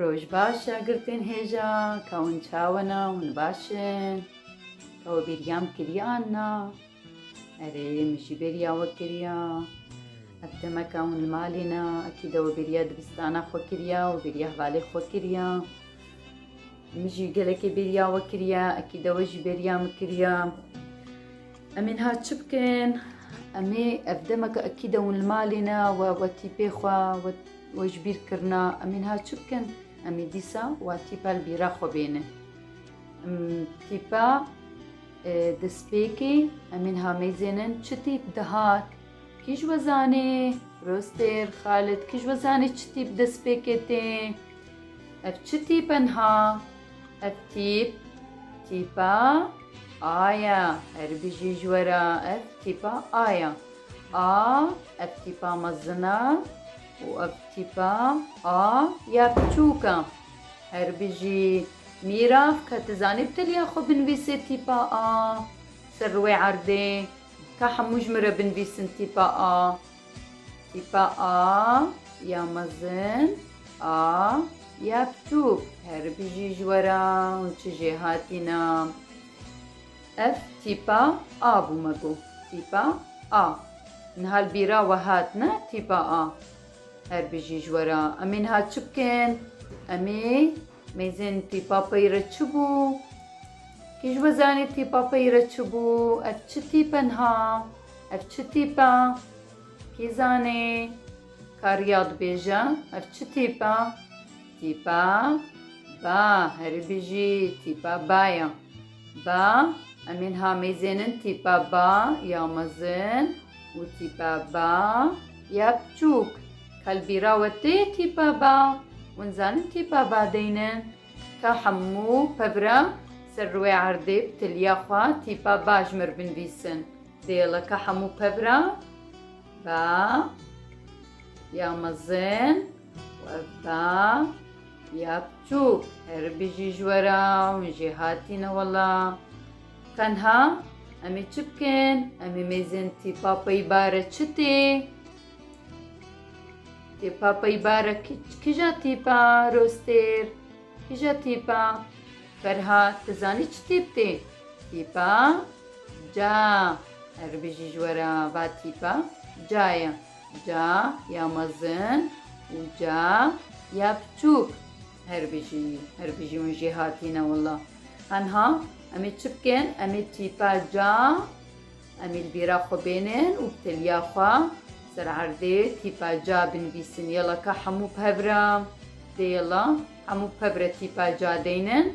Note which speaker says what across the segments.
Speaker 1: Roj baş ya girtên hêja ka hûn çawa na hûn baş in ka we bêriyam kiriya an na erê min jî bêriya we kiriya ev demeka hûn li malê na ekî de we bêriya dibistana xwe kiriya we bêriya hevalê xwe kiriya min jî gelekê bêriya we kiriya ekî de we jî bêriya min kiriya em ên ha çi bikin em ê ev demeka ekî de hûn li malê na we wetî pê xwe Wê ji bîr kirina em ê niha çi bikin? Em ê dîsa wa tîpa li bîra xwe bênin. Tîpa di spêkê em ê niha mêzênin çi tîp dihat? Kî ji we zanê? Rostêr, Xalid, kî ji we zanê çi tîp di spêkê tê? Ev çi tîp e niha? Ev tîp, tîpa A ya. Eribî jî ji we re ev tîpa A ya. A, Ev tîpa mezin e û ev tîpa A ya biçûk e. Her bijî. Mîrav, ka tu zanî bi teliya xwe binivîsê tîpa A ser wê erdê. Ka hemû ji min re binivîsin tîpa A. Tîpa A ya mezin, A ya biçûk. Her bijî ji we re hûn çi jê hatîne? Ev tîpa a bû me got tîpa a. Niha li bîra we hat ne tîpa a. Her bijî ji we re. Em ê niha çi bikin? Em ê mêzên tîpa pey re çi bû? Kî ji we zanî tîpa pey re çi bû? Ev çi tîp e niha? Ev çi tîp e? Kî zanê? Ka riya dibêje ev çi tîp e? Tîpa ba. Herî bijî tîpa ba ye. Ba, Em ên hamêzên in tîpa ba ya mezin û tîpa ba ya piçûk. Kalbîra we tê tîpa ba û nizanin tîpa ba deynin. Ka hemû pevra ser rûê erdê bi tiliya xwe tîpa ba ji mir binvîsin. Dêla ka hemû pevra ba ya mezin. Webda ya biçûk her bijî ji we re min jê hatîne wela. Tenha em ê çi bikin? Em ê mêzên tîpa peyba re çi tê? Tîpa peyba re kija tîpa rostêr? Kija tîpa? Ferha tu zanî çi tîp tê? Tîpa ca. Her bijî ji we re va tîpa ca ye. Ca ya mezin û ca ya piçûk. Her bijî, her bijî hûn jê hatîne wila. Tenha em ê çi bikin? Em ê tîpa ca em ê li bîra xwe bênin û bi teliya xwe ser erdê tîpa ca binivîsin. Yala ka hemû pevra dê yala hemû pevre tîpa ca deynin.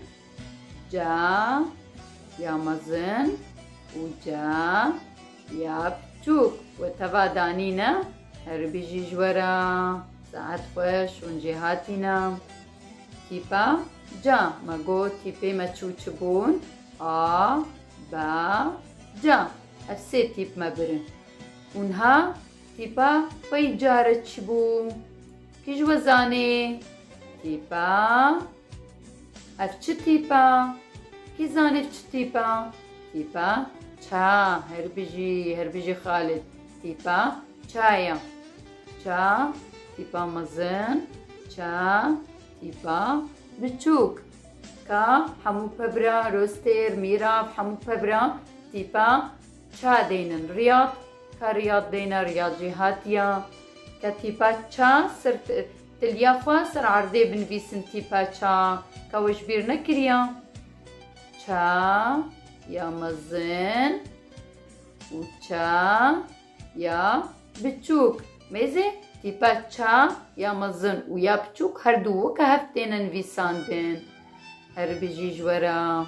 Speaker 1: ca ya mezin û ca ya piçûk we teva danîne herî bijî ji we re saet xweş hûn jê hatîne tîpa ca me got tîpê me çû çi bûn a ba ca ev sê tîp me birin hûn ha tîpa pey care çi bû kî ji we zanê tîpa Ev çi tîp e? Kî zanî çi tîp e? Tîp e ça. Her bijî, her bijî Xalid. Tîp e ça ye. Ça, tîp e mezin. Ça, tîp e biçûk. Ka, hemû pebra, rostêr, mîrav, hemû pebra tîp e ça deynin. Riyad, ka riyad deyne, riyad jî hatiye. Ke tîp e ça, sirf Tiliya xwe ser erdê binivîsin tîpa ça ka we ji bîr nekiriya. Ça ya mezin û ça ya biçûk. Mêzê tîpa ça ya mezin û ya biçûk her du weke hev têne nivîsandin. Herbijî ji we re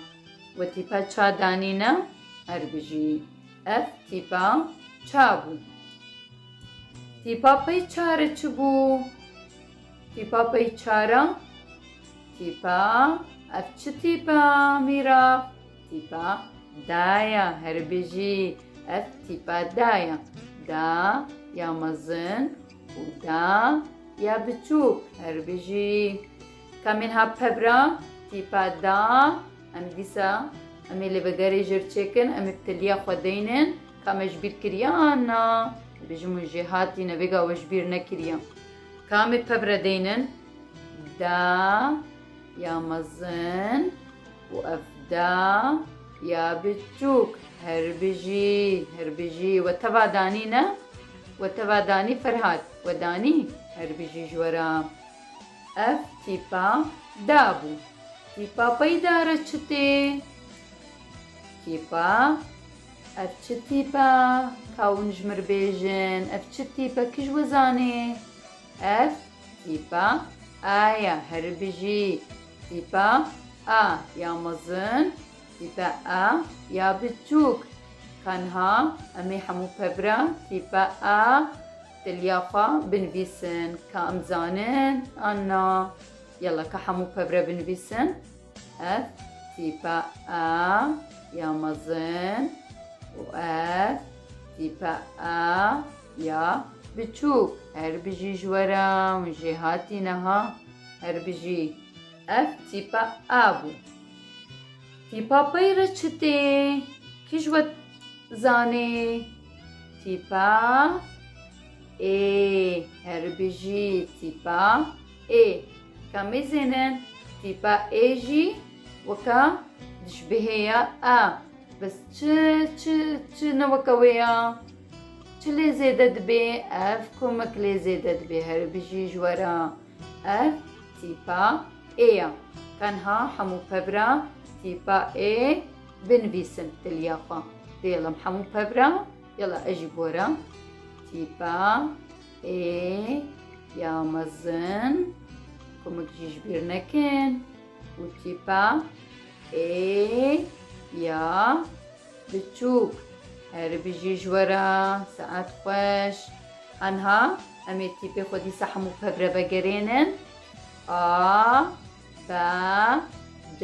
Speaker 1: we tîpa ça danîne? Herbijî. Ev tîpa ça bû. Tîpa pey çare çi bû? Tîpa pey çare tîpa ev çi tîpa mîra? Tîpa daya herbijî ev tîpa daya. Da ya mezin û da ya biçûk herbijî. Ka min hat pebra, tîpa da, em dîsa em ê li vegerê jê çêkin, em ê bi tiliya xwe deynin ka me ji bîr kiriye an na, bêjin hûn jê hatîn e vêga we ji bîr nekiriye. Ka me pebra deynin, da ya mezin û ev da ya biçûk her bijî, her bijî we teva danî ne, we teva danî Ferhat, we danî her bijî ji we re. Ev tîpa da bû. Tîpa peyda re çi tê? Tîpa Ev çi tîpa? Ka hûn ji min re bêjin ev çi tîpa? Kî ji we zanê? Ev tîpa A ye. Herî bijî. Tîpa A ya mezin, tîpa A ya biçûk. Ka niha em ê hemû pevra tîpa A Dilya xwe binivîsin ka em zanin an na. Yala ka hemû pevre binivîsin. Ev tîpa a ya mezin û ev tîpa a ya biçûk. Her bijî ji we re hûn jê hatîne ha. Her bijî. Ev tîpa a bû. Tîpa pey re çi tê? Kî ji we zanê? Tîpa ê heribijî tîpa ê ka mêzên in tîpa ê jî weka dijbihê ya a bes çi çi çi ne weka wê ya çi lê zêde dibê ev kumek lê zêde dibê heribijî ji we re ev tîpa ê ya tenha hemû pevra tîpa ê Binivîsim diliya xwe. Dêlim hemû pevra. Yala ez jî bora. Tîpa, ê, ya mezin, kumik jî ji bîr nekin. Û tîpa, ê, ya biçûk. Her bijî ji we re, saet xweş. Anha em ê tîpê xwe dîsa hemû pevre vegerênin. A, B, D,